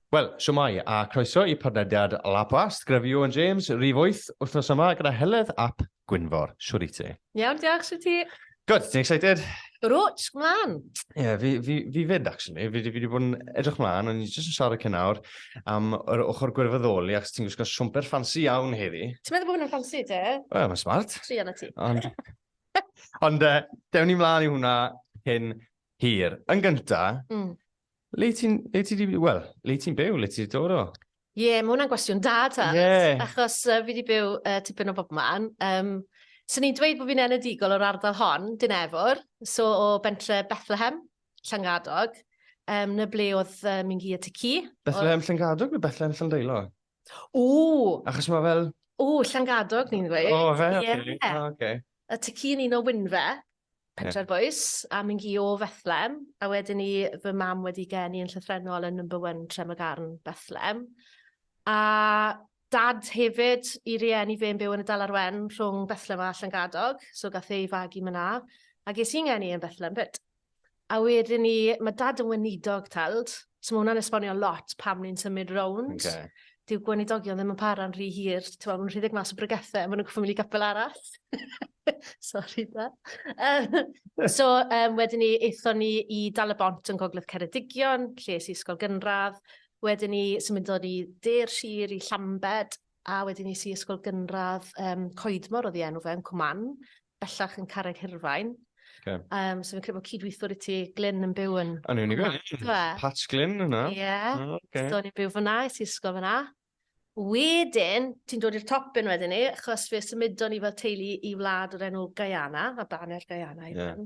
Wel, siwmai, a croeso i podlediad Lab Wast, Grefio yn James, rif 8, wythnos yma gyda Heledd ap Gwynfor, siwr i ti. Iawn, diolch, siwr i ti. Good, ti'n excited? Rwt, mlaen. Ie, yeah, fi, fi, fi fyd, actually. Fi wedi bod yn edrych mlaen, ond ni'n jyst yn siarad cyn awr am yr ochr gwirfoddoli, ac ti'n gwisgo siwmper ffansi iawn heddi. Ti'n meddwl bod hwnna'n ffansi, te? Wel, mae'n smart. Tri anna ti. Ond, ond uh, dewn ni mlaen i hwnna cyn hir. Yn gynta, mm. le ti'n, le ti'n, wel, le ti'n byw, le ti'n dod o? Ie, yeah, mae hwnna'n gwestiwn da, ta. Yeah. Achos uh, fi wedi byw uh, tipyn o bobman. Um, so ni'n dweud bod fi'n enedigol o'r ardal hon, Dinefwr, so o bentre Bethlehem, Llangadog, um, na ble oedd uh, mi'n hi a ty ci. Bethlehem oedd... Llangadog neu Bethlehem Llandeilo? O! Achos mae fel... O, Llangadog ni'n dweud. O, fe? Ie. Yeah. Oh, okay. A ty ci yn un o Wynfe. Pentre'r Bois, a mynd i o Fethlem, a wedyn i fy mam wedi geni yn llythrennol yn number one Tremagarn, Bethlem. A dad hefyd, i rieni fe'n byw yn y Dalar Wen rhwng Bethlem a Llangadog, so gath ei fagu myna, a ges i'n ngeni yn Bethlem 'fyd. A wedyn ni, mae dad yn weinidog teld, so mae hwnna'n esbonio lot pam ni'n symud rownd. Okay. Dyw gweinidogion ddim yn para'n rhy hir, ti'n meddwl, mae'n rhedeg mas o brygethau, maen nhw'n gwybod mynd i gapel arall. Sorry, da. Um, so, um, wedyn ni, eithon ni i Dal y Bont yn Gogledd Ceredigion, lle i ysgol gynradd. Wedyn ni, symudon ni de'r sir i Llambed, a wedyn ni si ysgol gynradd um, Coedmor oedd i enw fe, yn Cwman. bellach yn Carreg Hirfaen. Okay. Um, so fi'n credu bod cydweithwr i ti, Glyn, yn byw yn... Yn unig o'n e? Pat Glyn yna. Ie. Yeah. Oh, okay. So ni'n byw fyna, i ti ysgol fyna. Wedyn, ti'n dod i'r top yn wedyn ni, achos fe symudon ni fel teulu i wlad o'r enw Guyana, a baner Guyana i yeah.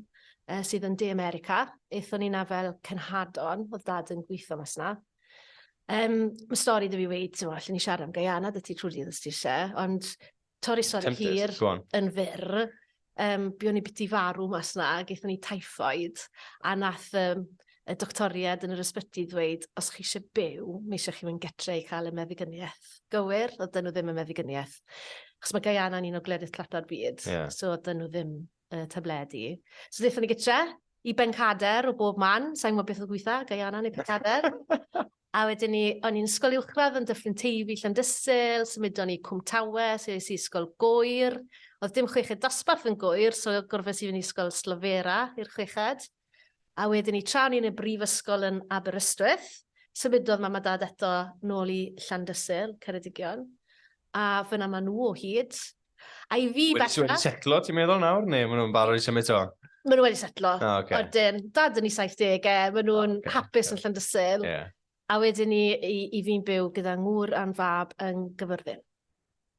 uh, sydd yn De America. Eithon ni na fel cenhadon, oedd dad yn gweithio mas na. Um, mae stori dy fi wedi, ti'n allan ni siarad am Guyana, dy ti trwy dydd ysdi eisiau, ond Torri sori Tempted, hir go on. yn fyr, um, buon ni biti farw mas na, gaethon ni typhoid, a nath um, y doctoriad yn yr ysbyty ddweud, os chi eisiau byw, mae eisiau chi fynd getre i cael y meddigyniaeth. Gywir, oedd dyn nhw ddim yn meddigyniaeth. Chos mae Guyana yn un o gledydd tlato'r byd, yeah. so oedd dyn nhw ddim y tabledi. So ddethon ni gytre i Bencader o bob man, sa'n gwybod beth oedd gweitha, Guyana neu Pencader. a wedyn ni, o'n i'n ysgol uwchradd yn Dyffryn Teifi, Llandysul, symudon ni Cwm Tawe, so es i ysgol gwyr. Oedd dim chweched dosbarth yn gwyr, so gorfod i fynd i ysgol Slofera i'r chweched. A wedyn 'ny tra o'n i yn y brifysgol yn Aberystwyth, symudodd mam a dad eto nôl i Llandysul, Ceredigion, a fyna ma' nhw o hyd. A i fi bellach... Wedi setlo ti'n meddwl nawr, neu ma' nhw'n barod i symud to? Ma' nhw wedi setlo. O, oce. Odyn, dad yn 'i 70au, ma' nhw'n... O, oce. ...hapus yn Llandysul. Ie. A wedyn i, i, i fi'n byw gyda ngŵr a'n fab yn gyfyrddin.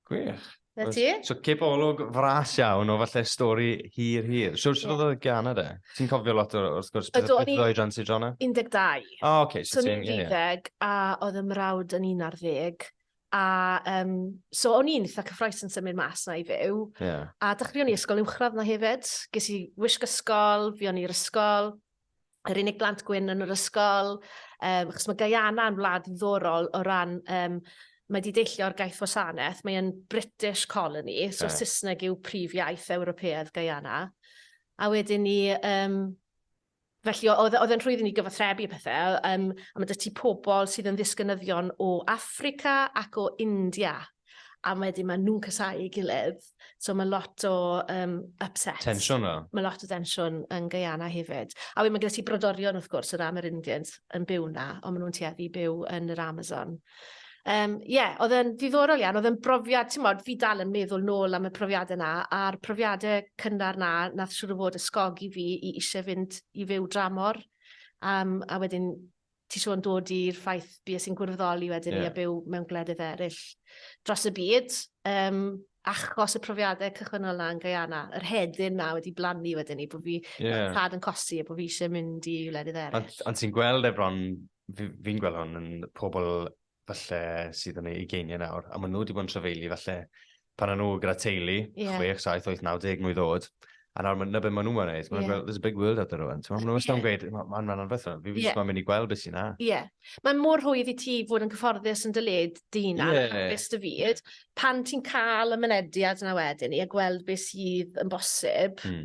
Gwych. Na ti? So cip olwg fras iawn o falle stori hir hir. Siwr sydd oedd y gan yna? Ti'n cofio lot o'r wrth gwrs beth oedd o'i dran ti drona? 12. O, oh, okay, so, so ti'n... So ni'n 20 a oedd y mrawd yn 11. A um, so o'n i'n eitha cyffroes yn symud mas na i fyw. Yeah. A dechreuon ni ysgol uwchradd na hefyd. Ges i wisg ysgol, fi o'n i'r ysgol. yr unig blant gwyn yn yr ysgol, um, achos mae Guyana yn wlad ddiddorol o ran, um, mae wedi deillio'r gaeth wasanaeth, mae'n British colony, so yeah. Saesneg yw prif iaith Ewropeaidd Guyana. A wedyn ni, um, felly oedd, oedd yn rhwydd i ni gyfathrebu y pethau, um, a mae dy ti pobl sydd yn ddisgynyddion o Africa ac o India. a wedyn maen nhw'n casau ei gilydd. So mae lot o um, upsets. Tensiwn fel. Mae lot o tensiwn yn Guyana hefyd. A wedyn mae gyda ti brodorion wrth gwrs, yr Amerindians yn byw na, ond maen nhw'n tueddu byw yn yr Amazon. Ie, um, yeah, oedd yn ddiddorol iawn, oedd yn brofiad, ti'n modd, fi dal yn meddwl nôl am y profiadau yna, a'r profiadau cynnar na, nath siwr o fod ysgogi fi i eisiau fynd i fyw dramor, um, a wedyn ti siŵr yn dod i'r ffaith bues i'n gwirfoddoli wedyn yeah. i a byw mewn gwledydd eraill dros y byd. Um, achos y profiadau cychwynnol na yn Guyana, yr hedyn na wedi blannu wedyn ni, bod fi yeah. tad yn cosi a bod fi eisiau mynd i wledydd eraill. Ond ti'n gweld efron, fi'n fi gweld hwn yn pobl falle sydd yn ei ugeiniau nawr, a maen nhw wedi bod yn trafeili falle pan o'n nhw gyda teulu, yeah. 6, 7, 8, 9, 10 mwy ddod, a nawr na beth maen nhw'n mynd wneud. Maen yeah. there's a big world out there rwan. Maen nhw'n wastad yn gweud, mae'n rhan o'n fethau, fi yeah. mae'n mynd i gweld beth sy'n na. Ie. Yeah. Mae'n mor hwydd i ti fod yn cyfforddus yn dyled dyn ar yeah. hapus dy fyd. Pan ti'n cael y mynediad yna wedyn i a gweld beth sydd yn bosib, mm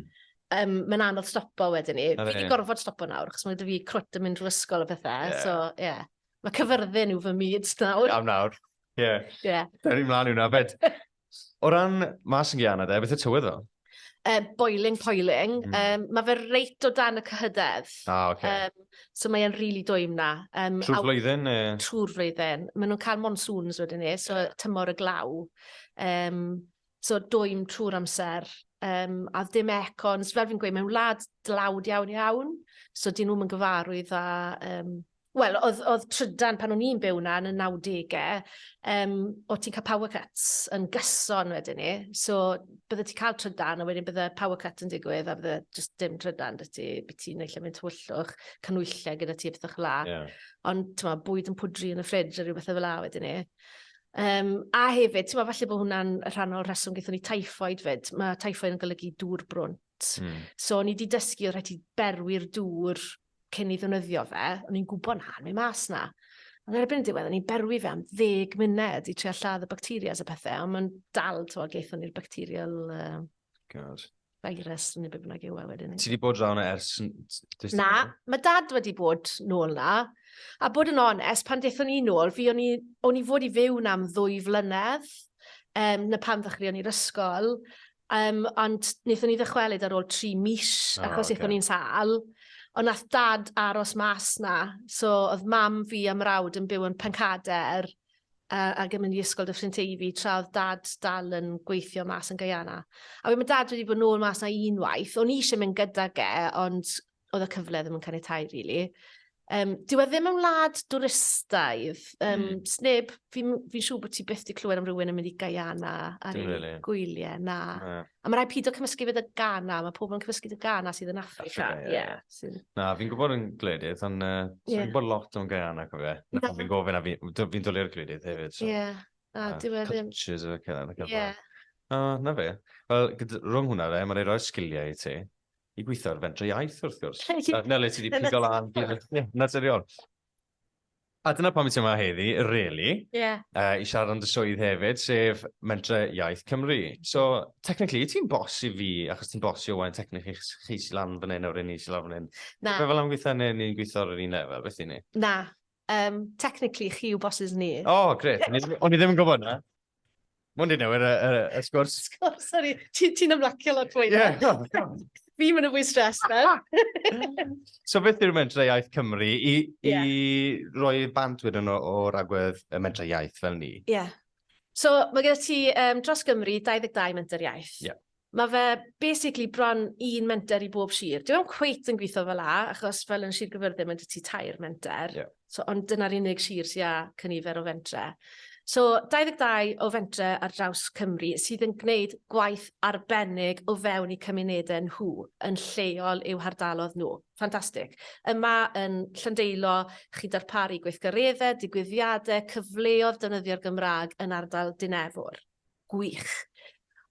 um, mae'n anodd stopo wedyn ni. Fi wedi gorfod stopo nawr, chos mae dy fi crwt yn mynd drwy ysgol o bethau, yeah. so ie. Yeah. Mae cyfyrddin yw fy myd nawr. Am nawr, ie. Yeah. Yeah. Da ni'n mlaen i'wna. Fed, o ran mas yn gyana de, beth y tywydd o? Uh, boiling, poiling. Mm. Um, mae fe reit o dan y cyhydedd. Ah, oce. Okay. Um, so mae'n rili really dwym na. Um, trwy'r flwyddyn? E... Trwy'r flwyddyn. Mae nhw'n cael monsoons wedyn ni, so tymor y glaw. Um, so dwym trwy'r amser. Um, a ddim econs, fel fi'n gweud, mae'n wlad dlawd iawn iawn. So dyn nhw'n gyfarwydd â um, Wel, oedd, oedd trydan pan o'n i'n byw na yn y 90au, um, o ti'n cael power cuts yn gyson wedyn ni. So, bydde ti'n cael trydan, a wedyn bydde power cut yn digwydd, a bydde just dim trydan dy ti, byd ti'n neud lle mynd tywyllwch, canwyllau gyda ti, bethach la. Yeah. Ond, ti'n ma, bwyd yn pwdri yn y ffridge a rhywbeth efo la wedyn ni. Um, a hefyd, ti'n ma, falle bod hwnna'n rhan o'r rheswm gyda ni typhoid fyd. Mae typhoid yn golygu dŵr brwnt. Mm. So, ni wedi dysgu oedd rhaid i berwi'r dŵr cyn i ddefnyddio fe, o'n i'n gwybod na, mae'n mas na. Ond erbyn y diwedd, o'n i'n berwi fe am ddeg munud i trio lladd y bacteria a pethau, ond mae'n dal, to, geithon ni'r bacterial... Uh, God. Virus, neu beth bynnag yw e wedyn. Ti wedi bod draw na ers... Na, mae dad wedi bod nôl na. A bod yn onest, pan dethon ni nôl, fi o'n i, o'n i fod i fyw na am ddwy flynedd, um, na pan ddechreuon ni'r ysgol, Um, ond wnaethon ni ddychwelyd ar ôl tri mis, oh, achos okay. eithon ni'n sal. Ond nath dad aros mas na, so oedd mam fi a mrawd yn byw yn Pencader uh, ac yn mynd i ysgol dy ffrind Teifi, tra oedd dad dal yn gweithio mas yn Guyana. A wedyn mae dad wedi bod nôl mas na unwaith, o'n i eisiau mynd gyda ge, ond oedd y cyfle ddim yn caniatau, really. Um, dyw e ddim yn wlad dwristaidd. Um, mm. Sneb, fi'n fi siŵr bod ti byth di clywed am rhywun yn mynd i Guyana ar ei really. gwyliau. Na. na. A mae rhai pido cymysgu fydd y Ghana. Mae pobl yn cymysgu y Ghana sydd yn Africa. Africa yeah. Yeah. Na, fi'n gwybod yn gledydd, ond uh, yeah. fi'n gwybod lot o'n Guyana, cofio. Na, na. fi'n gofyn a fi'n fi, fi dolio'r gledydd hefyd. So. Yeah. Na, uh, dyw e ddim. Cultures o fe, cydda. Yeah. O, na fe. Wel, rhwng hwnna, mae'r rhoi sgiliau i ti. I gweithio ar fentre iaith, wrth gwrs. Nele, ti wedi pigo lan. Naturiol. A dyna pam i ti yma heddi, really. Yeah. Uh, I siarad am dy swydd hefyd, sef Mentre Iaith Cymru. So, technically, i ti'n bos i fi, achos ti'n bos i Owain, technically, chi si lan fan hyn, o'r un i si lan fan hyn. Na. Fe fel am gweithio neu ni'n gweithio ar yr un lefel, beth i ni? Na. Um, technically, chi yw bosses ni. Oh, gret. O'n i ddim yn gwybod na. Mwyn di newid y, y, y sgwrs. Sgwrs, sorry. Ti'n ti ymlacio lot fwy. Yeah. Fi'n mynd yn fwy stres fe. so beth yw'r mentrau iaith Cymru i, yeah. i roi bant wedyn o'r agwedd y mentrau iaith fel ni? Ie. Yeah. So mae gyda ti um, dros Gymru 22 mentrau iaith. Ie. Yeah. Mae fe basically bron un menter i bob sir. Dyw e ddim cweit yn gweithio fel 'na, achos fel yn Sir Gaerfyrddin mae 'da ti tair menter. Ie. So, ond dyna'r unig sir sy â cynifer o fentre. So, 22 o fentre ar draws Cymru sydd yn gwneud gwaith arbennig o fewn eu cymunedau nhw, yn lleol i'w hardalodd nhw. Ffantastig. Yma yn Llandeilo, chi'n darparu gweithgareddau, digwyddiadau, cyfleodd defnyddio'r Gymraeg yn ardal Dinefwr. Gwych.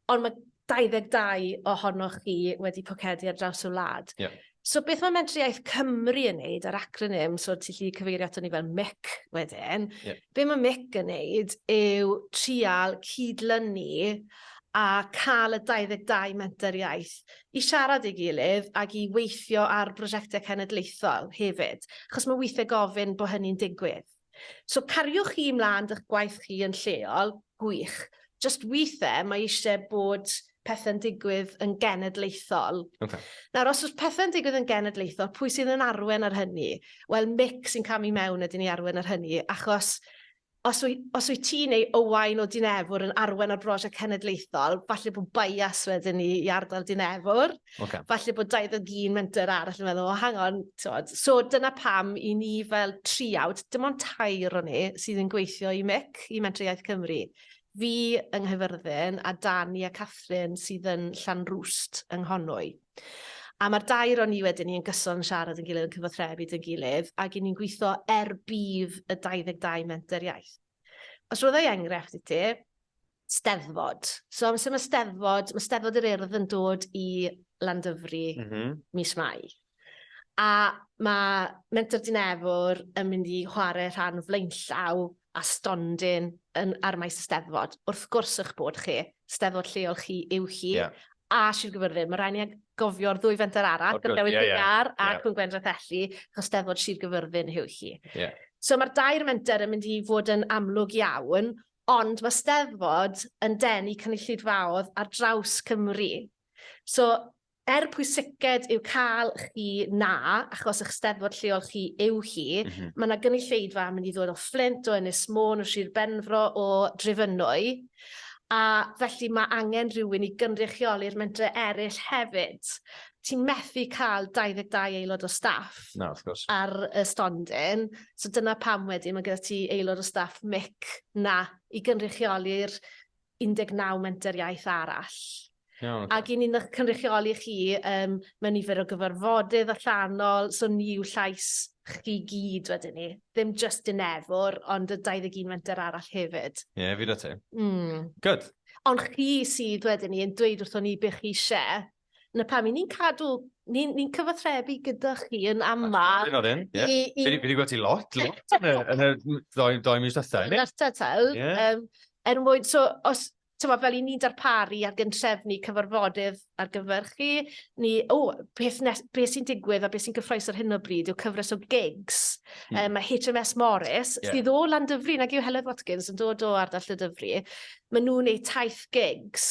Ond mae 22 ohonoch chi wedi pocedi ar draws y wlad. Yeah. So beth mae Mentrau Cymru yn neud ar acronym, so ti'n lli cyfeirio ato ni fel MIC wedyn, yeah. be mae MIC yn neud yw trial cydlynu a cael y 22 menter iaith i siarad ei gilydd ac i weithio ar brosiectau cenedlaethol hefyd, achos mae weithiau gofyn bod hynny'n digwydd. So cariwch chi mlân 'dych gwaith chi yn lleol, gwych. Jyst withe mae eisiau bod pethau'n digwydd yn genedlaethol. Okay. Nawr, os oes pethau'n digwydd yn genedlaethol, pwy sydd yn arwen ar hynny? Wel, Mick sy'n camu mewn ydyn ni arwen ar hynny, achos os wyt, os wyt ti neu Owain o Dinefwr yn arwen ar brosiect cenedlaethol, falle bod bias wedyn ni i ardal Dinefwr. Okay. Falle bod 21 menter arall yn meddwl, o, hang on, tywed. So dyna pam i ni fel triawd, dim ond tair o ni sydd yn gweithio i MIC, i Mentrau Iaith Cymru. Fi yng Nghyfyrddin a Dani a Catherine sydd yn Llan Rwst yng Nghonwy. A mae'r dair o'n ni wedyn ni yn gyson yn siarad yn gilydd yn cyfathrebu dyn gilydd ac i ni'n gweithio er bydd y 22 menter iaith. Os roedd ei enghraifft i ti, Steddfod. So amser mae Steddfod, mae Steddfod yr Urdd yn dod i Landyfri mm -hmm. mis Mai. A mae Menter Dinefwr yn mynd i chwarae rhan flaenllaw a stondin yn, ar maes y Steddfod. Wrth gwrs eich bod chi, Steddfod lleol chi yw chi, yeah. a Sir Gyfyrddin. Mae rhaid ni gofio'r ddwy fenter arall, gyda Dewyd yeah, Ddigar yeah, ac yeah. Gwendraeth Elli, achos Steddfod Sir Gyfyrddin yw chi. Yeah. So mae'r dair menter yn mynd i fod yn amlwg iawn, Ond mae Steddfod yn denu cynulleidfaoedd ar draws Cymru. So, er pwysiced yw cael chi na, achos eich Steddfod lleol chi yw hi, mm -hmm. mae yna gynulleidfa yn mynd i ddod o Fflint, o Ynys Môn, o Sir Benfro, o Drefynwy, a felly mae angen rhywun i gynrychioli'r mentre eraill hefyd. ti'n methu cael 22 aelod o staff Na, wrth gwrs. ar y stondin. So dyna pam wedyn mae gyda ti aelod o staff mic na i gynrychioli'r 19 menter iaith arall. Iawn, Ac i ni'n eich cynrychioli chi um, mewn nifer o gyfarfodydd allanol, so ni yw llais chi gyd wedyn ni. Ddim just yn efwr, ond y 21 menter arall hefyd. Ie, yeah, fi da ti. Mm. Good. Ond chi sydd wedyn ni yn dweud wrthon ni beth chi eisiau Na pam, ni'n cadw, ni'n ni cyfathrebu gyda chi yn aml. Yn oedden, ie. Fi wedi gweld ti lot, lot yn y, yn y ddoi, ddoi mis dda. Yn arta taw. Yeah. Um, er mwyn, so, os, tyma, fel i ni'n darparu ar gyntrefnu cyfarfodydd ar gyfer chi, ni, o, oh, beth, nes, beth sy'n digwydd a beth sy'n gyffroes ar hyn o bryd yw cyfres o gigs. Mm. Um, mae HMS Morris, yeah. sydd o Landyfri, nag yw Helen Watkins yn dod o ardall y Dyfri, maen nhw'n eu taith gigs.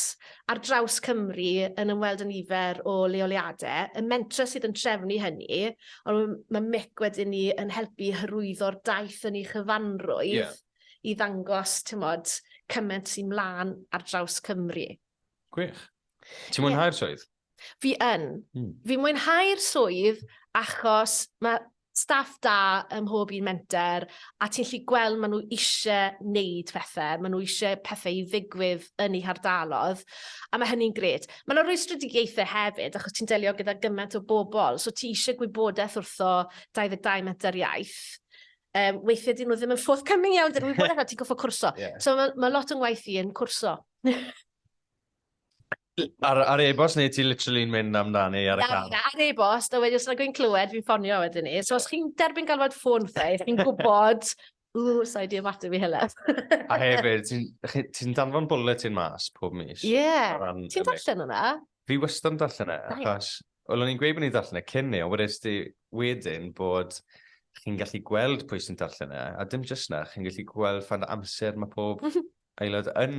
ar draws Cymru yn ymweld â nifer o leoliadau, y mentrau sydd yn trefnu hynny, ond mae Mick wedyn ni yn helpu i hyrwyddo'r daith yn ei chyfanrwydd... Ie. ...i ddangos, timod, cymaint sy'n mlaen ar draws Cymru. Gwych. Ie. Ti'n mwynhau'r swydd? Fi yn. Mm. Fi'n mwynhau'r swydd achos mae staff da ym mhob un menter, a ti'n lli gweld ma' nhw ishe neud pethe, ma' nhw ishe pethe i ddigwydd yn eu hardalodd, a ma' hynny'n grêt. Ma' 'na rwystredigaethe hefyd, achos ti'n delio gyda gyment o bobl, so ti ishe gwybodeth wrtho 22 menter iaith, um, weithiau dyn nhw ddim yn forthcoming iawn, dyn nhw'n gwybod eich ti'n goffo cwrso. Yeah. So mae ma lot o'n waith i yn cwrso. Ar, ar e-bost neu ti literally'n mynd amdani ar y car? Na, ar e-bost, a wedi os yna gwyn clywed, fi'n ffonio wedyn ni. So os chi'n derbyn galwad ffôn ffe, chi'n gwybod, ww, sa'i di ymateb i hylaf. a hefyd, ti'n ti, ti danfon bulletin mas pob mis? Ie, yeah. ti'n darllen hwnna? Fi wastad yn darllen e, achos, o'n i'n gweud bod ni'n darllen e cyn ni, ond wedys ti wedyn bod chi'n gallu gweld pwy sy'n darllen e, a dim jyst na, chi'n gallu gweld fan amser mae pob Aelod yn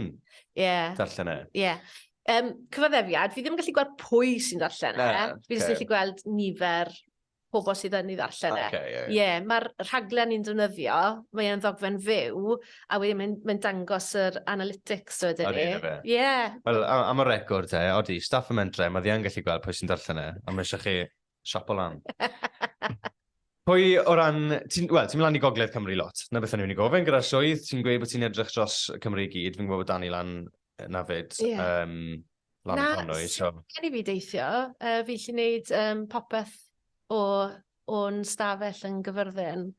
yeah. darllen e? Ie. Yeah. Um, cyfaddefiad, fi ddim yn gallu gweld pwy sy'n darllen e. Na, Fi jyst okay. gallu gweld nifer pobl sydd yn ei ddarllen e. Okay, ie. Ie, mae'r rhaglen ni'n defnyddio, mae e'n ddogfen fyw, a wedyn mae'n mae dangos yr analytics o ydyn ni. Ar un o fe. Ie. Wel, a- am y record e, odi, staff y mentre, mae ddi yn gallu gweld pwy sy'n darllen e, a mae eisiau chi Siapo lan. Pwy o ran... Ti'n well, ti mynd lan i gogledd Cymru lot. Na beth o'n i'n gofyn gyda'r swydd. Ti'n gweud bod ti'n edrych dros Cymru i gyd. Fi'n gwybod bod Dani lan na fyd. Yeah. Um, lan na, Conwy, so... Gen i fi deithio. Uh, fi lli wneud um, popeth o o'n stafell yn gyfyrddin.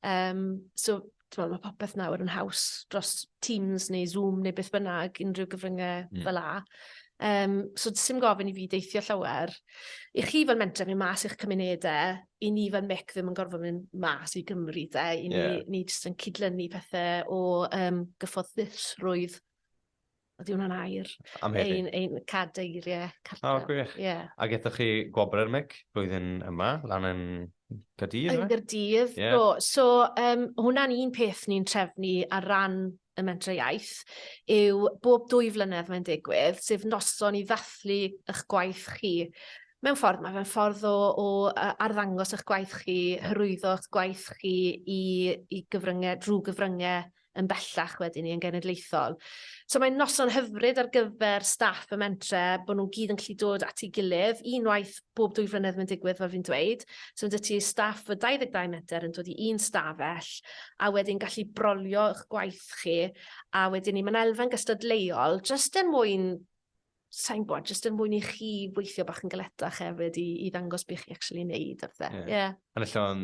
Um, so, t'mod ma' popeth nawr yn haws dros Teams neu Zoom neu beth bynnag unrhyw gyfrynge... Hmm. ...fel 'a. Yym so do's sim gofyn i fi deithio llawer. I chi fel mentor myn' mas i'ch cymunede, i ni fel mic ddim yn gorfod myn' mas i Gymru 'de... Ie. ...i ni ni jyst yn cydlynu pethe o yym gyfforddusrwydd Ydy hwnna'n air? Am heddi. Ein, ein cadeirie cartref. O, gwych. Ie. Yeah. Ac ethoch chi gwobr mic blwyddyn yma, lan yn Gadydd? Yn Gadydd, yeah. do. So, um, hwnna'n un peth ni'n trefnu ar ran y mentre iaith yw bob dwy flynedd mae'n digwydd, sef noson i ddathlu eich gwaith chi. Mewn ffordd, mae fe'n ffordd o, o arddangos eich gwaith chi, hyrwyddo eich gwaith chi i, i gyfryngau, drwy gyfryngau yn bellach wedyn ni yn genedlaethol. So mae'n noson hyfryd ar gyfer staff y mentre, bod nhw'n gyd yn gallu dod at ei gilydd, unwaith bob dwy flynedd mae'n digwydd fel fi'n dweud. So mae ti staff o 22 metr yn dod i un stafell, a wedyn gallu brolio eich gwaith chi, a wedyn ni mae'n elfen gystadleuol, jyst er mwyn sain gwybod, jyst yn mwyn i chi weithio bach yn galetach hefyd i, i ddangos beth chi actually wneud a bethau. Yeah. Yeah. Yn allan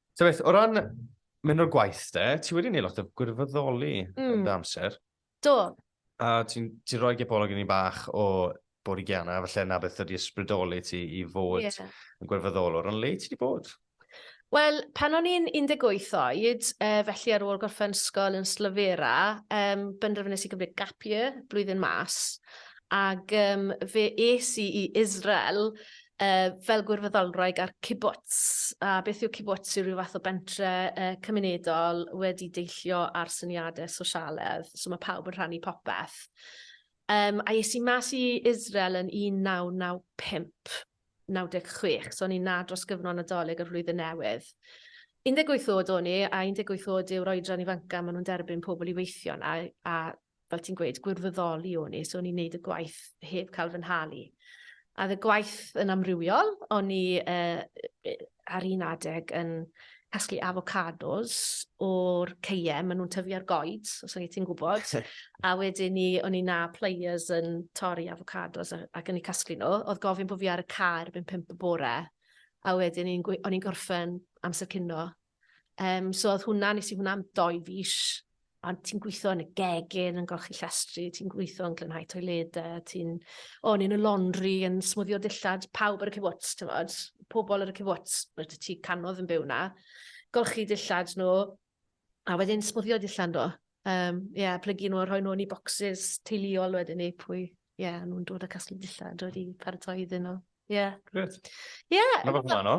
So beth, o ran mynd o'r gwaith de, ti wedi gwneud lot o gwirfoddoli mm. yn dy amser. Do. A ti'n ti rhoi gebolog i ni bach o bod i Gianna, felly na beth ydi ysbrydoli ti i fod yeah. yn gwirfoddolwr, ond le ti wedi bod? Wel, pan o'n i'n 18 oed, e, felly ar ôl gorffen ysgol yn Slyfera, um, benderfynus i gymryd gap year, blwyddyn mas, Ac yym fe es i i Israel yy fel gwirfoddolwraig ar kibbutz. A beth yw kibbutz yw rhyw fath o bentre yy cymunedol wedi deillio ar syniade sosialedd, so ma' pawb yn rhannu popeth. Yym a es i mas i Israel yn 1995, 96, so o'n i 'na dros gyfnod Nadolig a'r Flwyddyn Newydd. 18 o'd o'n i, a 18 o'd yw'r oedran ifanca ma' nhw'n derbyn pobl i weithio 'na, a fel ti'n gweud, gwirfoddoli o'n i, so o'n i'n neud y gwaith heb cael fy nhalu. A oedd y gwaith yn amrywiol, o'n i uh, ar un adeg yn casglu avocados o'r ceiem, maen nhw'n tyfu ar goed, os o'n i ti'n gwybod. a wedyn ni, o'n i na players yn torri avocados ac yn ei casglu nhw. Oedd gofyn bod fi ar y car byn pimp y bore, a wedyn o'n i'n gorffen amser cynno Um, so oedd hwnna, nes i hwnna am doi fis, ond ti'n gweithio yn y gegin, yn golchi llestri, ti'n gweithio yn glynhau toiledau, ti'n... O, yn y laundry, yn smwddio dillad, pawb ar y cyfwts, ti'n fod, pobl ar y cyfwts, rydw ti canodd yn byw na, golchi dillad nhw, a wedyn smwddio dillad nhw. Um, yeah, plygu nhw, rhoi nhw yn i bocsys teuluol wedyn ni, pwy, ie, yeah, nhw'n dod â casglu dillad, dod i paratoi iddyn nhw. Ie. Yeah. Gret. Ie. Yeah, Mae'n fath o'n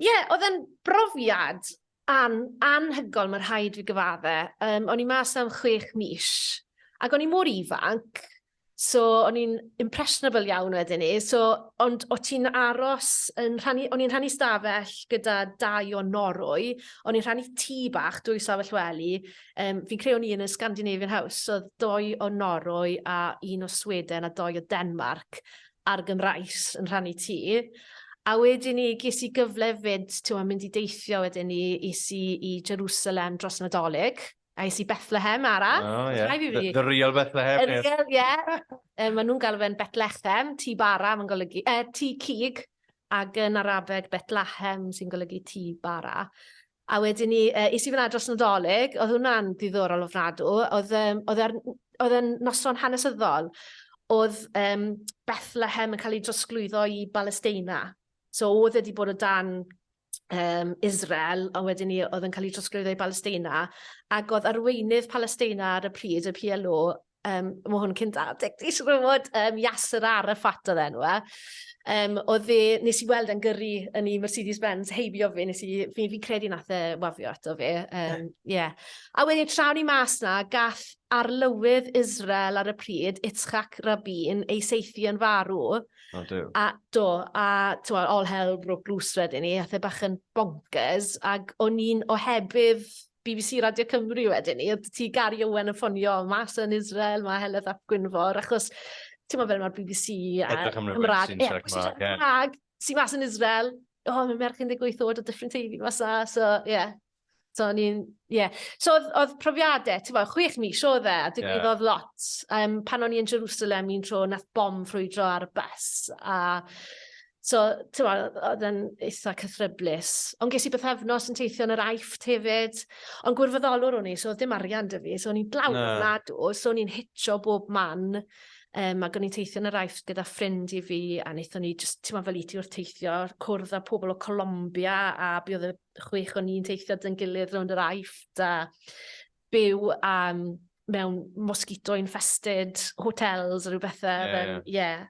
Ie, yeah, oedd e'n brofiad an, anhygoel, mae rhaid fi gyfadde. Um, o'n i mas am chwech mis, ac o'n i mor ifanc, so o'n i'n impressionable iawn wedyn ni. So, ond o ti'n aros, yn rhannu, o'n i'n rhannu stafell gyda dau o Norwy, o'n i'n rhannu tŷ bach, dwy stafell wely. Um, fi'n creu o'n i yn y Scandinavian House, so doi o Norwy a un o Sweden a doi o Denmark. ar Gymraes yn rhannu tŷ, a wedyn ni ges i gyfle fyd, ti'n mynd i deithio wedyn ni, is i i Jerusalem dros Nadolig, a is i Bethlehem ara. Oh, yeah. The, the real Bethlehem. The real, ie. Yeah. um, maen nhw'n galw fe'n Bethlehem, tŷ bara, mae'n golygu, uh, tŷ cig, ac yn Arabeg Bethlehem sy'n golygu tŷ bara. A wedyn ni, yy, es i fyna dros Nadolig, oedd hwnna'n ddiddorol ofnadw. Oedd, um, oedd, er, oedd e'n noson hanesyddol, oedd um, Bethlehem yn cael ei drosglwyddo i Balesteina. So oedd wedi bod o dan um, Israel, ond wedyn ni oedd yn cael ei drosglwyddo i Balesteina, ac oedd arweinydd Palesteina ar y pryd, y PLO, um, mae hwn cyn 20, dwi'n siŵr fod um, Yasser Arafat oedd enw e. Um, oedd e, nes i weld yn gyrru yn ei Mercedes-Benz heibio fi, nes i, fi, fi credu nath e wafio ato fi. Um, yeah. A wedyn trawn i mas na, gall arlywydd Israel ar y pryd, Itzchak Rabin, ei seithi yn farw. O, do. A do, a twa, all hell broke loose wedyn ni, a the bach yn bonkers, ac o'n i'n ohebydd bbc Radio Cymru wedyn 'ny o'dd ti Gari Owen yn ffonio mas yn Israel ma' Heledd ap Gwynfor achos t'mo' fel ma'r bbc a... Edrych am rywun sy'n siarad Cymrag ie. ...Cymrag sy mas yn Israel o ma' merch 18 oed o Dyffryn Teifi mas 'na so ie. So o'n i'n ie. So o'dd o'dd profiade t'mo' chwech mis odd e a digwyddodd lot yym pan o'n i yn Jerwsalem un tro nath bom ffrwydro ar y bys a So, ti'n meddwl, oedd yn eitha cythryblus. Ond ges i bythefnos yn teithio yn yr aifft hefyd. Ond gwirfoddolwr o'n i, so oedd dim arian dy fi. So o'n i'n dlawd yn nadw, so o'n i'n hitio bob man. Um, ac o'n i'n teithio yn yr aifft gyda ffrind i fi, a wnaethon ni, just, ti'n meddwl, fel i ti wrth teithio, cwrdd â pobl o Colombia, a bydd oedd y chwech o'n i'n teithio dyn gilydd rownd yr aifft, a byw um, mewn mosquito infested hotels a rhywbeth. Ie, yeah, ie. Yeah. Yeah.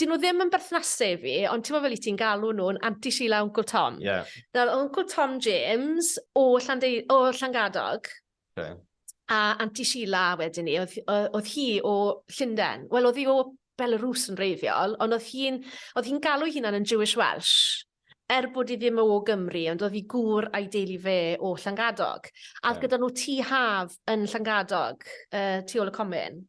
'dyn nhw ddim yn berthnasu i fi, ond timod fel i ti'n galw nhw'n Anti Sheila a Wncl Tom? Ie. Nawr o'dd Wncl Tom James o Llandei- o Llangadog. Oce. A Anti Sheila wedyn 'ny o'dd o- o'dd hi o Llunden. Wel o'dd hi o Belarws yn wreiddiol, ond o'dd hi'n o'dd hi'n galw'i hunan yn Jewish Welsh, er bod 'i ddim o Gymru, ond o'dd 'i gŵr a'i deulu fe o Llangadog. A o'dd gyda nhw tŷ haf yn Llangadog, yy tu ôl y comin.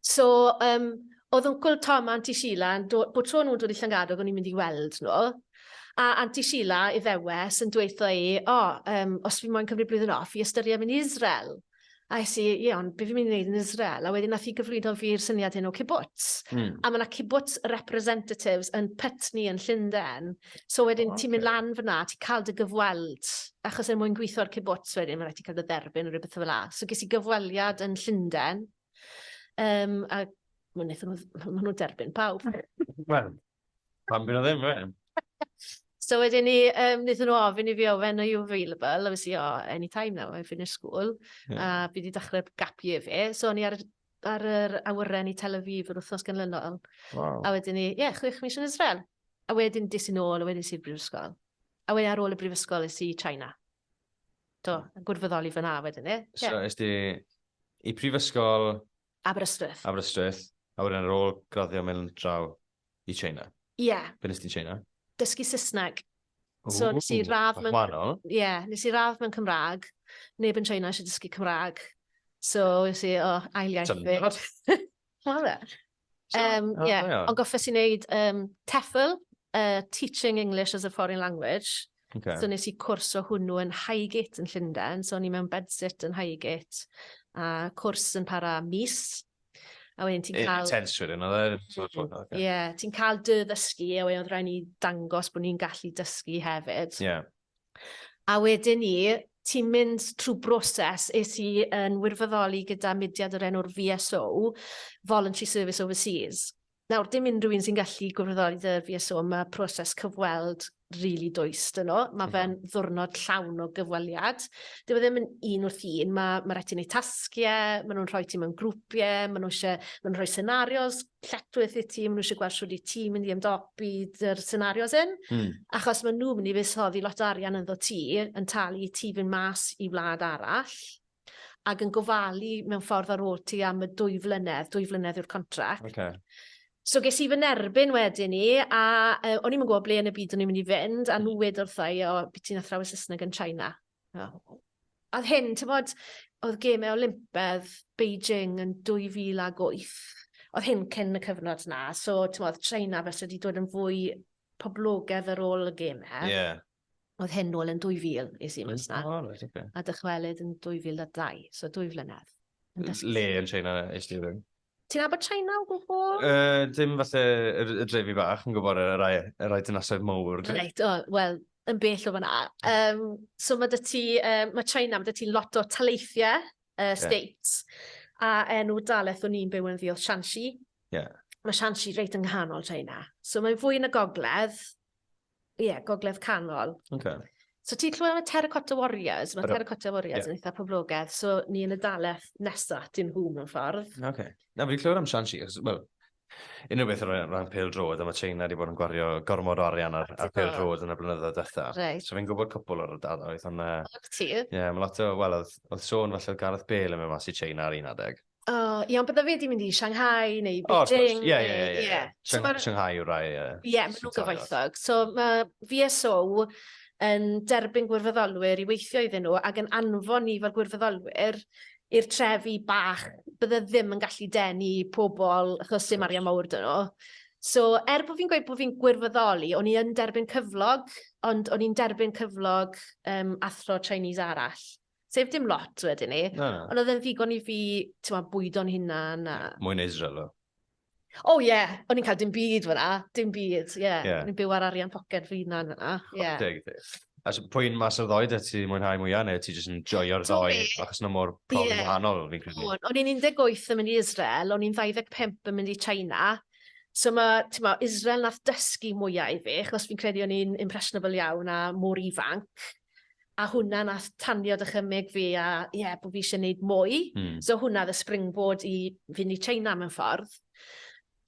So, um, oedd Uncle Tom a Auntie Sheila, bod tro nhw'n dod i Llangadog, o'n i'n mynd i weld nhw. A Auntie Sheila, i ddewes, yn dweud dweitha i, o, oh, um, os fi moyn cymryd blwyddyn off, i ystyried mynd i Israel. A es i, ie, ond beth fi'n mynd i wneud yn Israel? A wedyn nath i gyflwyno fi'r syniad hyn o kibbutz. Mm. A mae yna kibbutz representatives yn Putney yn Llundain. So wedyn oh, ti'n mynd lan fyna, ti'n cael dy gyfweld, achos er mwyn gweithio'r cibwts wedyn, mae'n rhaid ti'n cael dy dderbyn o rhywbeth fel la. So ges i gyfweliad yn Llundain, um, a mae'n eithaf nhw, ma nhw derbyn pawb. Wel, pan bydd o ddim, fe? So wedyn ni, um, wnaethon nhw ofyn i fi ofyn, are you available? A fysi, oh, any time now, I finish school. Yeah. A fi wedi dechrau gap year fi. So o'n i ar, ar yr awyren i Tel Aviv yr wythnos ganlynol. Wow. A wedyn ni, ie, yeah, chwech mis yn Israel. A wedyn des i'n ôl a wedyn es i'r brifysgol. A wedyn ar ôl y brifysgol es i China. Do, yn gwrfyddoli fyna wedyn, ie. Yeah. So, es di i prifysgol... Aberystwyth. Aberystwyth. A wedyn ar ôl graddio mewn draw i China. Ie. Yeah. Be nes ti'n China? Dysgu Saesneg. So, nes i radd mewn... Wahanol. Ie, yeah, nes i radd mewn Cymraeg. Neb yn China eisiau dysgu Cymraeg. So, nes i, o, oh, ail iaith fi. Tynod. Wel, Yym, ie. Ond goffes i wneud um, TEFL, uh, Teaching English as a Foreign Language. Okay. So nes i cwrs o hwnnw yn Highgate yn Llundain, so o'n i mewn bedsit yn Highgate, a cwrs yn para mis. A wedyn ti'n cael... Intense wedyn, oedd e? Ie, ti'n cael dy ddysgu, a wedyn oedd rhaid ni dangos bod ni'n gallu dysgu hefyd. Ie. Yeah. A wedyn 'ny ti'n mynd trwy broses, es i yn wirfoddoli gyda mudiad o'r enw'r VSO, Voluntary Service Overseas. Nawr, dim unrhyw un sy'n gallu gwirfoddoli 'da VSO, mae proses cyfweld rili dwys 'dyn nhw. Mae fe'n ddiwrnod llawn o gyfweliad. Dyw e ddim yn un wrth un, ma' ma' raid ti neud tasge, ma' nhw'n rhoi ti mewn grwpie, ma' nhw isie ma' nhw'n rhoi scenarios lletchwith i'r tîm, nhw eisiau gweld sut i tîm mynd i ymdopi dy'r senarios hyn, mm. achos maen nhw'n mynd i fusoddi lot o arian ynddo ti, yn talu i ti fynd mas i wlad arall, ac yn gofalu mewn ffordd ar ôl ti am y dwy flynedd, dwy flynedd yw'r contract. Okay. So ges i fy nerbyn wedyn ni, a uh, o'n i'n gwybod ble yn y byd o'n i'n mynd i fynd, a nhw wedi wrthau, o, byd ti'n athrawes Saesneg yn China. Na. Oedd hyn, ti'n bod, oedd gemau Olympedd Beijing yn 2008. Oedd hyn cyn y cyfnod na, so ti'n bod, China fes wedi dod yn fwy poblogedd ar ôl y gemau. Ie. Yeah. Oedd hyn nôl yn 2000, is i mas na. Oh, right, okay. A dychwelyd yn 2002, so dwy flynedd. Le yn China eistedd yn? Ti'n nabod China o gwbl? Uh, dim falle yr, y drefi bach, yn gwybod y rai, y rai dynasoedd mowr. Reit, o, wel, yn bell o fyna. Um, so mae dy ti, um, mae China, mae dy ti lot o taleithiau uh, states. Yeah. A enw daleth o'n i'n byw yn ddi oedd Shanxi. Yeah. Mae Shanxi reit yng nghanol China. So mae'n fwy yn y gogledd, Ie, Gogledd Canol. Okay. So ti'n clywed am y Terracotta Warriors? Mae Terracotta Warriors yn eitha poblogaidd, so ni yn y daleth nesaf at nhw mewn ffordd. Oce. Okay. Na, fi'n clywed am Shanxi, wel, unrhyw beth yn rhan pel drod, a mae China wedi bod yn gwario gormod o arian ar, ar pel drod yn y blynyddoedd dda. Right. So fi'n gwybod cwpl o'r ardaloedd, ond... Ie, yeah, mae lot o, wel, oedd, oedd sôn falle oedd Gareth Bale yn mynd mas i China ar un adeg. O, oh, iawn, bydda fi wedi mynd i Shanghai neu Beijing. Oh, course. Ie, ie, ie, ie. Shanghai yw'r rai. Ie, yeah, maen nhw'n gyfoethog. So mae VSO yn derbyn gwirfoddolwyr i weithio iddyn nhw ac yn anfon ni fel gwirfoddolwyr i'r trefi bach bydde ddim yn gallu denu pobl achos dim arian mawr dyn nhw. So, er bod fi'n gweud bod fi'n gwirfoddoli, o'n i yn derbyn cyflog, ond o'n i'n derbyn cyflog um, athro Chinese arall. Sef dim lot wedyn ni. Na, na. Ond oedd e'n ddigon i fi, ti'n ma, bwydo'n hunan. A... Mwy na Israel o. O ie, yeah. o'n i'n cael dim byd fyna, dim byd, ie. Yeah. Yeah. O'n i'n byw ar arian poced fy hunan fyna. Yeah. Deg, deg. A so, pwy'n mas o'r ddoi, da ti mwynhau mwyaf neu ti jyst yn joio'r ddoi achos yna mor profi yeah. wahanol fi'n credu? O'n i'n 18 yn mynd i Israel, o'n i'n 25 yn mynd i China, So mae, ti'n ma, Israel nath dysgu mwyaf i fi, achos fi'n credu o'n i'n impressionable iawn a mor ifanc. a hwnna nath tanio dychymyg fi a ie, bod fi eisiau gwneud mwy. Mm. So hwnna oedd y springboard i fynd i China mewn ffordd.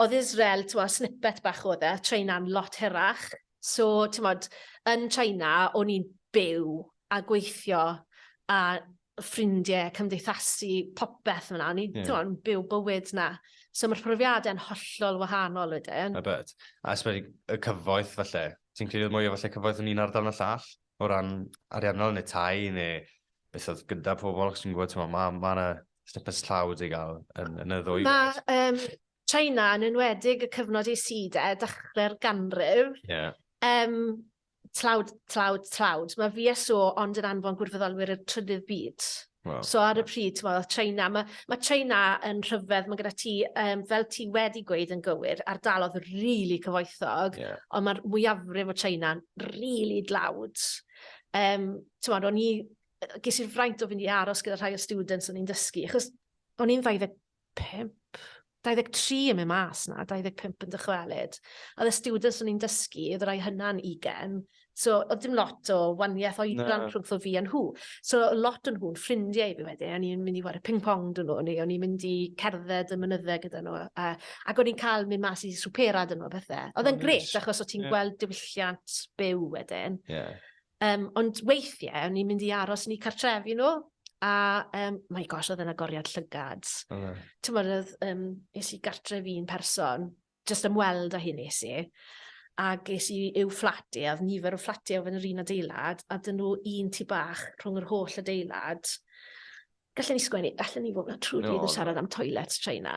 Oedd Israel, ti'n modd, snippet bach oedd e, China'n lot hirach. So, ti'n modd, yn China, o'n i'n byw a gweithio a y ffrindie, cymdeithasu, popeth fyna. O'n i, yeah. t'mo', byw bywyd 'na. So mae'r profiadau'n hollol wahanol wedyn. I bet. A esbyd y cyfoeth falle. Ti'n credu mwy o falle cyfoeth yn un ardal na llall? O ran ariannol neu tai neu beth oedd gyda pobl, chos ti'n gwybod, ti'n ma, ma yna snippets tlawd i gael yn, yn y ddwy. Mae um, China yn enwedig y cyfnod i syd e, dechrau'r ganrif. Yeah. Um, tlawd, tlawd, tlawd. Mae VSO ond yn anfon gwirfoddolwyr i'r trydydd byd. Wow. So ar y pryd, ti'n meddwl, China, mae, mae China yn rhyfedd, mae gyda ti, um, fel ti wedi gweud yn gywir, ardalodd rili really cyfoethog, yeah. ond mae'r mwyafrif o China'n rili really dlawd. Um, ti'n meddwl, o'n i, ges i'r fraint o fynd i aros gyda rhai o students o'n i'n dysgu, achos o'n i'n 20 25? 23 yn mynd mas 'na, 25 yn dychwelyd. A oedd y students o'n i'n dysgu, oedd y rai hynna'n 20. So, oedd dim lot o waniaeth oedran rhwngtho fi a nhw. So, lot o'n nhw'n ffrindiau i fi wedyn. O'n i'n mynd i ware ping-pong dyn nhw, neu o'n i'n mynd i cerdded y mynyddau gyda nhw. A, ac o'n i'n cael mynd mas i swpera dyn nhw a bethau. Oedd e'n gret, achos o ti'n yeah. gweld diwylliant byw wedyn. Yeah. Um, ond weithiau, o'n i'n mynd i aros yn eu cartrefi nhw, a um, my gosh, oedd yna goriad llygad. Oh, no. Ti'n mwyn, oedd, um, nes i gartref un person, jyst ymweld â hyn nes i, ac es i i'w fflati, a oedd nifer o fflati oedd yn yr un adeilad, a dyn nhw un tu bach rhwng yr holl adeilad. Gallwn ni sgwennu, allan ni fod yn trwy no. yn siarad am toilet traina.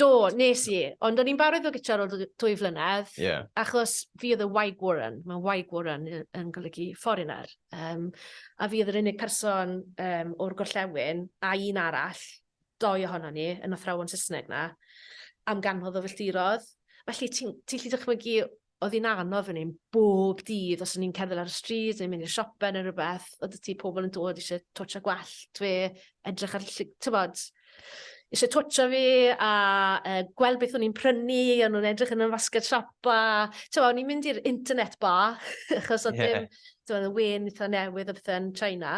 Do, nes i. Ond o'n i'n barod fel gyda ar ôl dwy flynedd. Yeah. Achos fi oedd y Waig Warren. Mae Waig Warren yn golygu foreigner. Um, a fi oedd yr unig person um, o'r gorllewin a un arall, doi ohono ni, yn athrawon Saesneg na, am ganfod o filltirodd. Felly ti'n ti lli dychmygu oedd hi'n anodd fan hyn bob dydd, os o'n i'n cerdded ar y stryd neu mynd i'r siope neu rhywbeth, oedd y ti pobl yn dod eisiau twtio gwallt fe, edrych ar, tywod, eisiau twtio fi a e, gweld beth o'n i'n prynu, o'n nhw'n edrych yn y fasged siopa, tywod, o'n i'n mynd i'r internet ba, achos oedd yeah. dim, tywod, y wen eitha newydd o bethau yn China,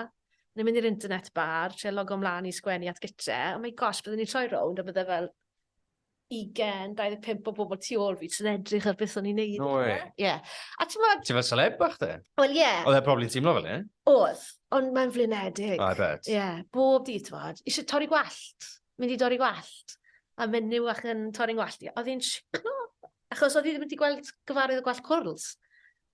o'n i'n mynd i'r internet bar, tre logo mlaen i sgwennu at gytre, oh my gosh, byddwn ni'n troi rownd a byddai fel, 20, 25 o bobl tu ôl fi jyst yn edrych ar beth o'n i'n neud. No way. Ie. A t'mod... Ti fel celeb bach de? Wel ie. Oedd e probably'n teimlo fel 'ny. Oedd, ond mae'n flinedig. Oh I bet. Ie, bob dydd t'mod, isie torri gwallt, mynd i dorri gwallt, a menyw fach yn torri 'ngwallt i, a o'dd 'i'n shocking o! Achos o'dd 'i ddim wedi gweld gyfarwydd o gwallt cwrls.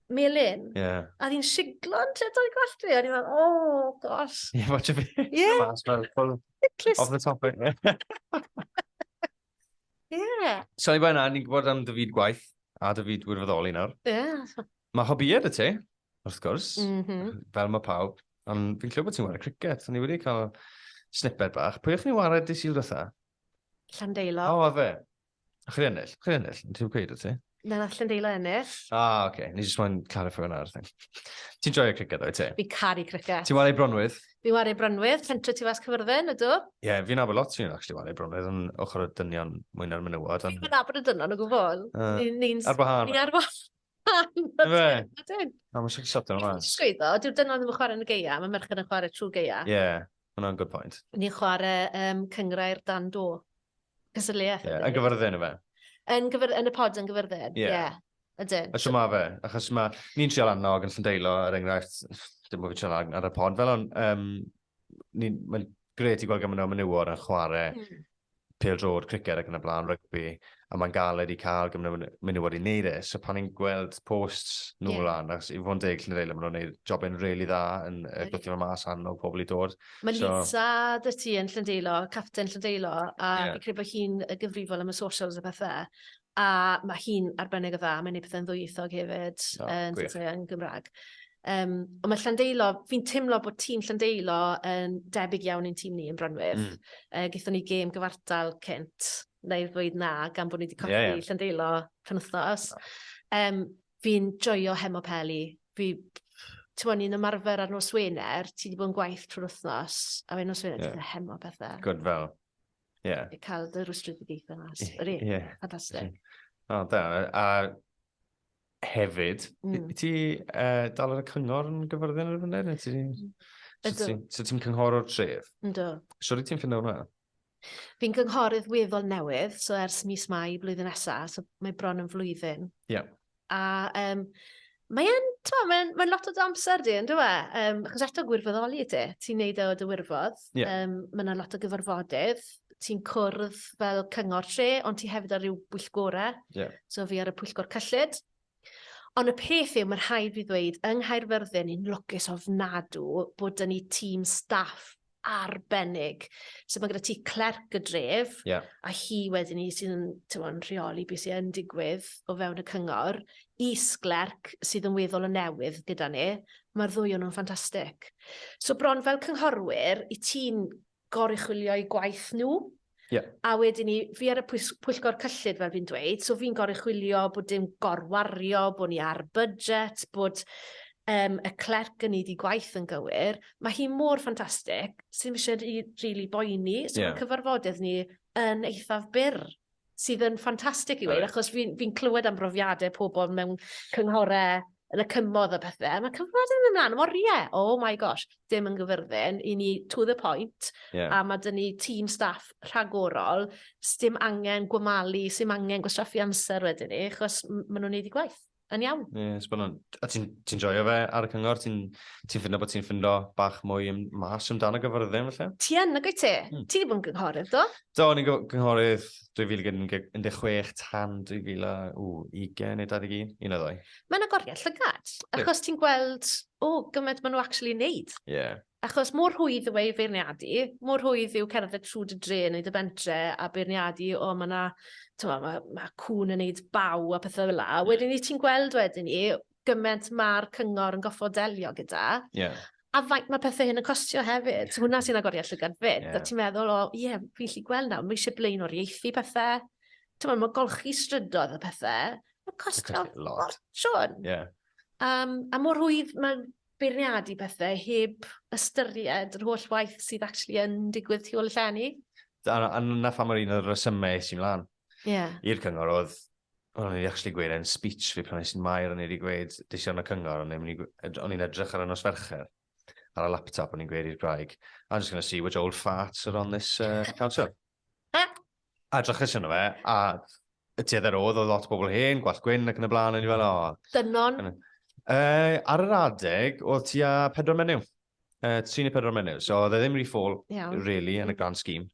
melyn. Yeah. A oedd hi'n siglo yn tyd o'i gwallt fi. A ni'n meddwl, oh, gosh. Ie, yeah, watch a bit. Ie. Off the topic. Ie. yeah. So, i bwyna, ni'n gwybod am dy fyd gwaith a dy fyd wirfoddoli nawr. Ie. Yeah. Mae hobiad y ti, wrth gwrs, mm -hmm. fel mae pawb. Ond fi'n clywed bod ti'n wario cricket, ond ni wedi cael snippet bach. Pwy o'ch chi'n wario di sy'n rotha? Llandeilo. O, oh, fe. A chi ennill? Chi ennill? Ti'n gweud o ti? Na, na, Llandeilo ennill. Ah, oce. Okay. Ni jyst moyn clarifio hwnna ar thing. Ti'n joio criced o'i ti? Fi caru criced. Ti'n wario Bronwydd? Fi wario Bronwydd, centro tu fas Cyfyrddin, ydw? Ie, yeah, fi'n abod lot fi'n actually wario Bronwydd, yn ochr y dynion mwy na'r menywod. Fi'n mynd abod y dynion o gwbl. Uh, Ni'n... Ar wahân. Ni'n ar wahân. Ydyn. Na, mae'n siarad sotio yma. Sgwyddo, dyw'r dynon ddim yn chwarae yn y geia, mae merched yn chwarae trwy geia. Ie, yeah, hwnna'n good point. Ni'n chwarae um, cyngrair dan do. Cysylliaeth. Ie, yeah, yn gyfyrddin y fe. Yn, gyfer, yn y pod yn gyfyrddin, ie. Yeah. Yeah. Ydyn. A sy'n ma fe, achos mae ni'n trial annog yn Llandeilo, er enghraifft, dim bod fi'n trial ar y pod fel hwn, um, mae'n gret i gweld gymaint o menywod yn chwarae mm. pel drod, criced ac yn y blaen, rygbi, a mae'n galed i cael gymaint o menywod i wneud e. So pan ni'n gweld post nhw yeah. lan, ac i fod yn deg llun reilio, maen nhw'n gwneud job yn rili dda yn y yeah. gwthio mas anno pobl i dod. Mae so... Lisa dy ti yn Llyndeilo, captain Llyndeilo, a yeah. fi'n credu bod hi'n gyfrifol am y socials a pethau. A mae hi'n arbennig o dda, mae'n gwneud pethau'n ddwyieithog hefyd, oh, yn dechrau yn Gymraeg. Um, ond mae Llandeilo, fi'n teimlo bod tîm Llandeilo yn debyg iawn i'n tîm ni yn Brynwydd. Mm. Uh, Gaethon ni gêm gyfartal cynt, neu ddweud na, gan bod ni wedi colli yeah, yeah. Llandeilo penwthnos. Oh. Um, fi'n joio hemo peli. Fi, ti'n mwyn, ni'n ymarfer ar nos Wener, ti wedi bod yn gwaith trwy'r wythnos, a fe nos Wener, yeah. ti'n hemo pethau. Good fel. Ie. I cael dy rwystredigaethau mas. Ie. Yr un. Ie. Fantastic. O, da. A hefyd, mm. ti uh, dal ar y cyngor yn gyfyrddin ar y funud? Ti... Mm. Ydw. So ti'n cynghor o'r tref? Yndw. So rydw ti'n ffindo hwnna? Fi'n gynghorydd weddol newydd, so ers mis mai blwyddyn nesaf, so mae bron yn flwyddyn. Ie. Yeah. A um, mae e'n, ti'n mae'n mae lot o dy amser di, ynddo e? Um, achos eto gwirfoddoli ti, ti'n neud e o dy wirfodd. Yeah. Um, mae yna lot o gyfarfodydd, ti'n cwrdd fel cyngor tre, ond ti hefyd ar ryw bwyllgorau. Yeah. So fi ar y pwyllgor cyllid. Ond y peth yw, mae'n rhaid fi ddweud, yng Nghaerfyrddin, ni'n lwcus ofnadw bod dyn ni tîm staff arbennig. So mae gyda ti clerc y dref, yeah. a hi wedyn ni sydd yn tywon, rheoli beth sy'n digwydd o fewn y cyngor, is-glerc sydd yn weddol o newydd gyda ni, mae'r ddwy o'n nhw'n ffantastig. So bron fel cynghorwyr, i ti'n goruchwilio i gwaith nhw, Yeah. A wedyn ni, fi ar y pwyllgor cyllid fel fi'n dweud, so fi'n goruchwilio bod dim gorwario, bod ni ar budget, bod um, y clerc yn neud i gwaith yn gywir. Mae hi mor ffantastig, sy'n eisiau rili really boeni, so yeah. cyfarfodydd ni yn eithaf byr sydd yn ffantastig i weid, right. achos fi'n fi, clywed am brofiadau pobl mewn cynghorau yn y cymodd a pethe. Mae cyfnod yn ymlaen, mor ie, oh my gosh, dim yn gyfyrddin, i ni to the point, yeah. a mae dyn ni tîm staff rhagorol, sdim angen gwamalu, sdim angen gwastraffu amser wedyn ni, achos maen nhw'n neud i gwaith yn iawn. Ie, yeah, sbynnon. A ti'n ti joio fe ar y cyngor? Ti'n ti ffindo bod ti'n ffindo bach mwy mas amdano gyfyrddin felly? Ti yn, nag wyt ti? Hmm. Ti wedi bod yn gynghorydd, do? Do, o'n i'n gynghorydd 2016 tan 2020 neu 21, un o ddoi. Mae'n agoriad llygad, achos ti'n gweld, o, oh, gymaint maen nhw actually wneud. Ie. Yeah. Achos mor rhwydd yw ei feirniadu, mor rhwydd yw cerdded trwy dy dre neu dy bentre a beirniadu, o, oh, mae yna, mae ma, ma cwn yn neud baw a pethau fel la. Wedyn i ti'n gweld wedyn i, gyment mae'r cyngor yn goffod delio gyda. Yeah. A faint mae pethau hyn yn costio hefyd. Yeah. Hwna sy'n agoriad llygad fyd. Yeah. Ti'n meddwl, o, ie, yeah, fi'n lli gweld nawr, mae eisiau blaen o'r ieithi pethau. Ti'n meddwl, mae golchi strydoedd y pethau. Mae'n costio lot. Siôn. Yeah. Um, a mor hwydd mae'n beirniadu pethau heb ystyried yr holl waith sydd actually yn digwydd tu ôl y llenni. A, a na pha mae'r un o'r resymau sy'n mlaen. yeah. i'r cyngor oedd, o'n i'n actually gweud yn speech fi pan i'n mair o'n i wedi gweud dision y cyngor, o'n i'n edrych ar y nos fercher ar y laptop o'n i'n gweud i'r graig, I'm just going to see which old farts are on this uh, council. a drachus yno fe, a y tuedd ar oedd, oedd lot o bobl hen, gwallt gwyn ac yn y blaen, o'n i fel, o. Dynon? Uh, ar yr adeg, oedd ti a pedro menyw. Uh, 3 neu 4 menyw, so oedd e ddim rhi ffôl, really, yn y grand scheme.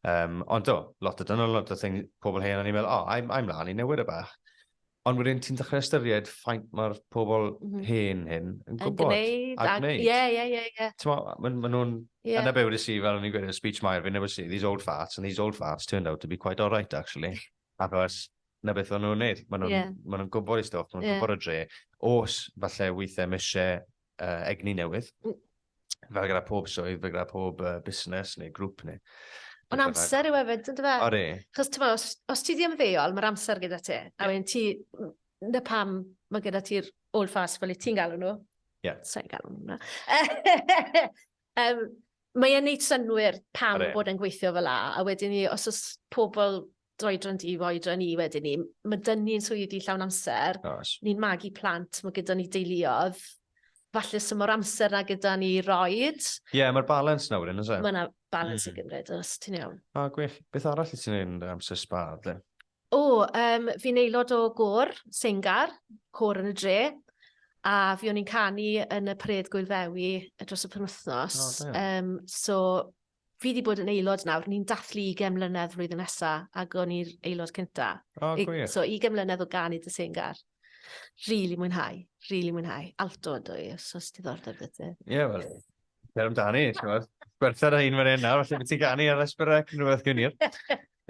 Um, ond do, lot o dynol, lot o thing, pobl hen, o'n i'n meddwl, oh, I'm, I'm lan i newid y bach. Ond wedyn ti'n dechrau ystyried ffaint mae'r pobl mm -hmm. hen hyn yn gwybod. Yn gwneud. Ac gwneud. Ie, ie, ie, ie. Mae'n ma nhw'n... Yeah. Yna be wedi si, fel o'n i'n gweud, speech Mair, fi newydd si, these old farts, and these old farts turned out to be quite alright, actually. Achos, na beth o'n nhw'n neud. Mae nhw'n yeah. ma nhw gwybod i stoff, mae nhw'n yeah. gwybod y dre. Os, falle, weithiau, mis eisiau uh, egni newydd. Mm. Fel gyda pob swydd, fel gyda pob uh, busnes neu grŵp neu... Ond amser yw efo, dyn fe? Ori. Chos ti'n os, os ti ddim ddeol, mae'r amser gyda ti. A wedyn ti, na pam mae gyda ti'r old fast fel i ti'n galw nhw. Ie. Yeah. Sa'n galw nhw hwnna. um, mae'n neud synwyr pam Are. bod yn gweithio fel la, a wedyn ni, os oes pobl d'oedran di i fy oedran i wedyn 'ny. Ma' 'da ni yn swyddi llawn amser. Oes. Ni'n magu plant, ma' gyda ni deuluodd. Falle sdim o'r amser 'na gyda ni i roid. Ie, ma'r balans 'na wedyn, o's e? Ma' 'na balans i gymryd, oes, ti'n iawn. O, gwych. Beth arall wyt ti'n neud yn dy amser sba de? O, um, fi'n aelod o gôr, Sengar, côr yn y dre, a fi o'n i'n canu yn y Paredd Gwyl Ddewi dros y penwthnos. Oh, um, so, Fi 'di bod yn aelod nawr, ni'n dathlu ugain mlynedd flwyddyn nesa, ac o'n i'r aelod cynta. O, oh, gwych. So, ugain mlynedd o gan i dy sengar. Rili mwynhau, rili mwynhau. Alto ydw i, os oes diddordeb dy ti. Ie, wel, cer amdani, ti'n gwybod. Gwerthad a un fan hyn nawr, felly beth ti'n ganu ar Esperec, rhywbeth gynir.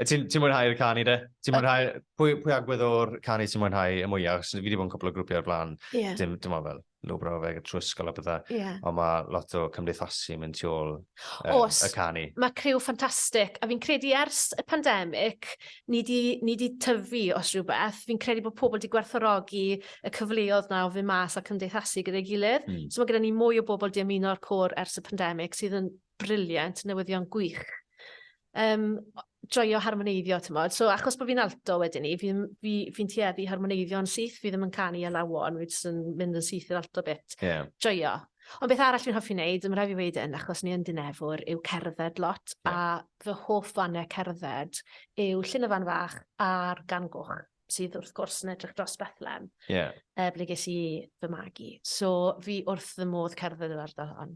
Ti'n ti mwynhau'r canu de? Ti'n mwynhau... Pwy, pwy agwedd o'r canu ti'n mwynhau y mwyaf? Os fi wedi bod yn cwpl o grwpiau o'r blaen, yeah. dim, dim ond fel lwbr o fe trwy ysgol a bydda. Yeah. Ond mae lot o cymdeithasu yn mynd tu ôl um, Os, y canu. Mae criw ffantastig, a fi'n credu ers y pandemig, ni di, ni di tyfu os rhywbeth. Fi'n credu bod pobl wedi gwerthorogi y cyfleoedd na o fy mas a cymdeithasu gyda'i gilydd. Mm. So mae gyda ni mwy o bobl di ymuno'r cwr ers y pandemig sydd yn briliant, newyddion gwych. Yym, joio harmoneiddio, t'mod. So, achos bo' fi'n alto wedyn 'ny, fi ddim... fi... fi'n tueddu i harmoneiddio'n syth, fi ddim yn canu ar lawon, fi jyst yn mynd yn syth i'r alto bit. Ie. Joio. Ond beth arall fi'n hoffi neud, ma' raid fi weud 'yn, achos ni yn Dinefwr, yw cerdded lot. Ie. A fy hoff fane cerdded yw Llyn y Fan Fach a'r Gan Goch, sydd wrth gwrs yn edrych dros Bethlem. Ie. Yy, ble ges i fy magu. So, fi wrth fy modd cerdded yr ardal hon.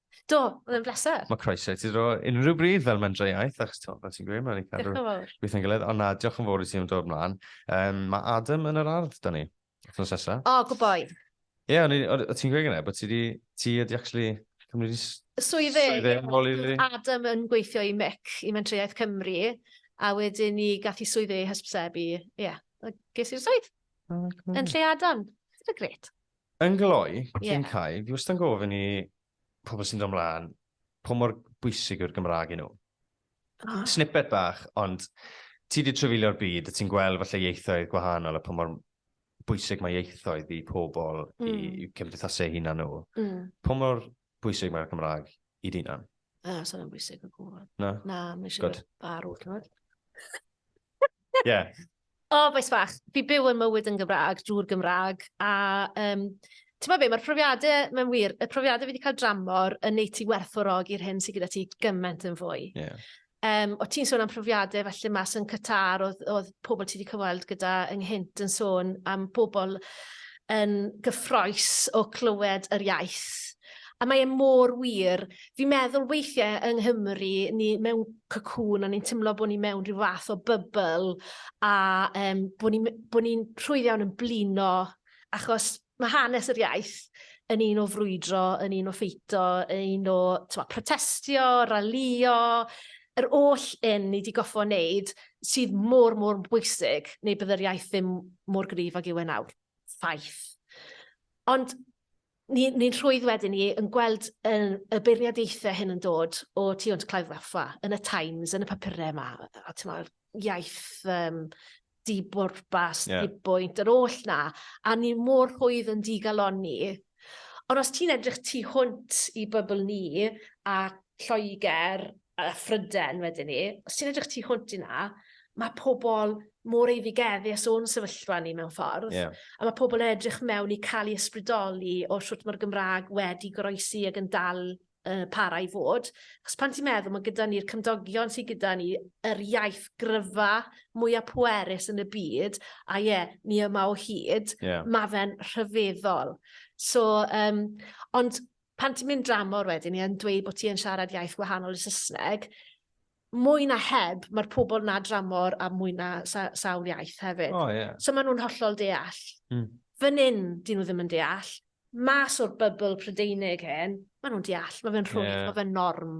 Do, oedd yn bleser. Mae croeso i ti dro unrhyw bryd fel mendreiaeth, achos ti'n fel ti'n gweud, mae'n ei cadw beth yn gilydd. Ond na, diolch yn fawr i ti am dod mlaen. Um, mae Adam yn yr ardd, da ni, wrthnos nesa. O, oh, gwyboi. Ie, yeah, o ti'n gweud gyda, bod ti di, ti ydi actually cymryd i... Swyddi. Swyddi, Adam yn gweithio i MIC, i Mentreuaeth Cymru, a wedyn ni gath i swyddi hysbysebu, ie, yeah, ges i'r swydd. Oh, yn lle Adam. Dyna gret. Yn gloi, cyn cau, fi wastad yn gofyn i pobl sy'n dod ymlaen, po mor bwysig yw'r Gymraeg i nhw. Oh. Snippet bach, ond ti wedi trefilio'r byd, a ti'n gweld falle ieithoedd gwahanol a po mor bwysig mae ieithoedd i pobl, mm. i, i cymdeithasau hunan nhw. Mm. Po mor bwysig mae'r Gymraeg i dyn nhw? Na, sa'n yn bwysig o gwbl. Na? Na, mae eisiau farw, ti'n gwybod? Ie. O, bois fach, fi byw yn mywyd yn Gymraeg, drwy'r Gymraeg, a um, ti'n meddwl be, mae'r profiadau, mae'n wir, y profiadau fi wedi cael dramor yn neud ti werthfawrogi'r hyn sydd gyda ti gymaint yn fwy. Yeah. Um, o ti'n sôn am profiadau felly mas yn Qatar, oedd, oedd pobl ti wedi cyfweld gyda ynghynt yn sôn am pobl yn gyffroes o clywed yr iaith. A mae e mor wir, Fi'n meddwl weithiau yng Nghymru, ni mewn cocoon a ni'n tymlo bod ni mewn rhyw fath o bybl a um, bod ni'n bo ni rhwydd iawn yn blino achos mae hanes yr iaith yn un o frwydro, yn un o ffeito, yn un o twa, protestio, ralio, yr oll un ni wedi goffo wneud sydd mor, mor bwysig neu bydd yr iaith ddim mor gryf ag yw e nawr. Ffaith. Ond ni'n ni rhwydd wedyn ni yn gweld yn, y beirniadaethau hyn yn dod o tu hwnt Clive Waffa, yn y Times, yn y papurau yma, a ti'n meddwl, iaith um, dibwrpas, yeah. dibwynt, yr oll na, a ni mor rhwydd yn digalonni. Ond os ti'n edrych tu hwnt i bybl ni, a Lloegr, a phryden wedyn ni, os ti'n edrych tu hwnt i na, mae pobl mor eiddigeddus o'n sefyllfa ni mewn ffordd. Yeah. A mae pobl yn edrych mewn i cael ei ysbrydoli o sut mae'r Gymraeg wedi goroesi ac yn dal uh, para i fod. Os pan ti'n meddwl, mae gyda ni'r cymdogion sydd gyda ni, yr iaith gryfa mwyaf pwerus yn y byd, a ie, yeah, ni yma o hyd, yeah. mae fe'n rhyfeddol. So, um, ond pan ti'n mynd dramor wedyn i yn dweud bod ti yn siarad iaith wahanol i Saesneg, mwy na heb, mae'r pobl na dramor a mwy na sa sawl iaith hefyd. Oh, yeah. So maen nhw'n hollol deall. Mm. Fan hyn, dyn nhw ddim yn deall. Mas o'r bybl Prydeinig hyn, maen nhw'n deall. Mae fe'n rhwydd, yeah. mae fe'n norm.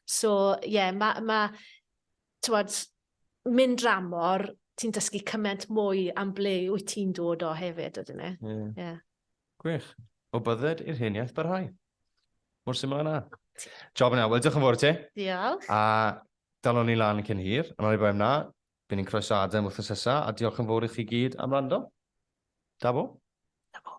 So, ie, yeah, mae, ma, tywed, mynd dramor, ti'n dysgu cymaint mwy am ble wyt ti'n dod o hefyd, ydyn ni. Ie. Yeah. Yeah. Gwych. O bydded i'r hen iaith barhau. Mor syml â 'na. Job yna. Wel, diolch yn fawr i ti. Diolch. A dalon ni lan cyn hir, ond oni bai am 'na, by' ni'n croeso Adam wythnos nesa, a diolch yn fawr i chi gyd am wrando. Da bo. Da bo.